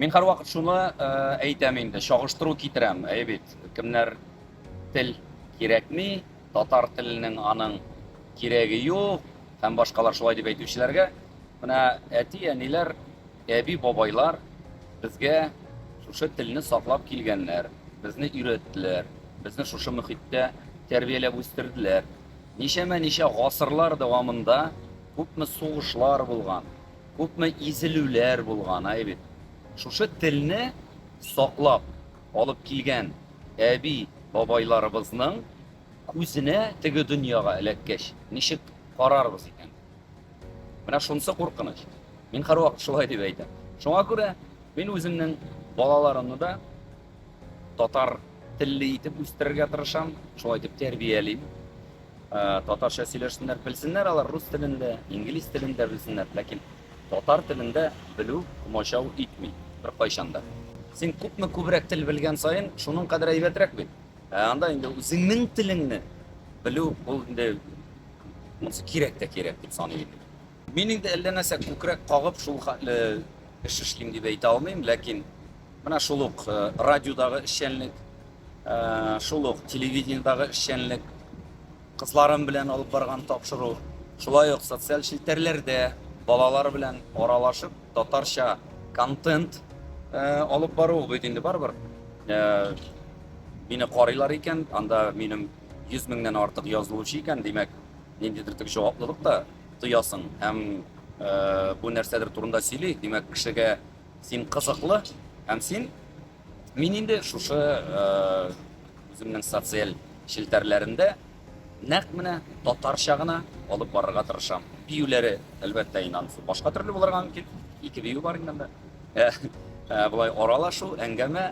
Мин һәрвакыт шуны әйтәм инде, чагыштыру китерәм. Әйе бит, кемнәр тел кирәкми, татар теленең аның кирәге юк һәм башкалар шулай дип әйтүчеләргә, менә әти-әниләр Әби-бабайлар безгә шушы телне саклап килгәннәр, безне өйрәттеләр, безне шушы мөхиттә тәрбияләп үстерделәр. Ничәмә-ничә гасырлар дәвамында күпме сугышлар булган, күпме изелүләр булган, әй бит. Шушы телне саклап алып килгән әби-бабайларыбызның күзенә теге дөньяга эләккәч, ничек карарбыз икән? Менә шунысы куркыныч. Мин һәрвакыт шулай дип әйтәм. Шуңа күрә мин үземнең балаларымны да татар телле итеп үстерергә тырышам, шулай итеп тәрбиялим. Ә, татарча сөйләшсеннәр, белсеннәр алар рус телендә, инглиз телендә белсеннәр, ләкин татар телендә белү комачау итми бер кайчанда. Син күпме күбрәк тел белгән саен, шуның кадәр әйбәтрәк бит. Ә анда инде үзеңнең телеңне белү ул инде Монысы кирәк тә кирәк дип саный идем. Мин инде әллә нәрсә күкрәк кагып шул хәтле эш эшлим дип әйтә алмыйм, ләкин менә шул ук э, радиодагы эшчәнлек, э, шул ук телевидениедагы эшчәнлек, кызларым белән алып барган тапшыру, шулай ук социаль челтәрләрдә балалар белән аралашып татарча контент э, алып бару бит инде барыбер. Э, мине карыйлар икән, анда минем 100 меңнән артык язылучы икән, димәк, ниндидер тик җаваплылык та тоясың һәм э, бу нәрсәдер турында сөйли. Димәк, кешегә син кызыклы һәм син мин инде шушы э, үземнең социаль челтәрләрендә нәкъ менә татарча гына алып барырга тырышам. Биюләре, әлбәттә, инансы башка төрле булырга мөмкин. Ике бию бар инде монда. Э, э, Булай аралашу, әңгәмә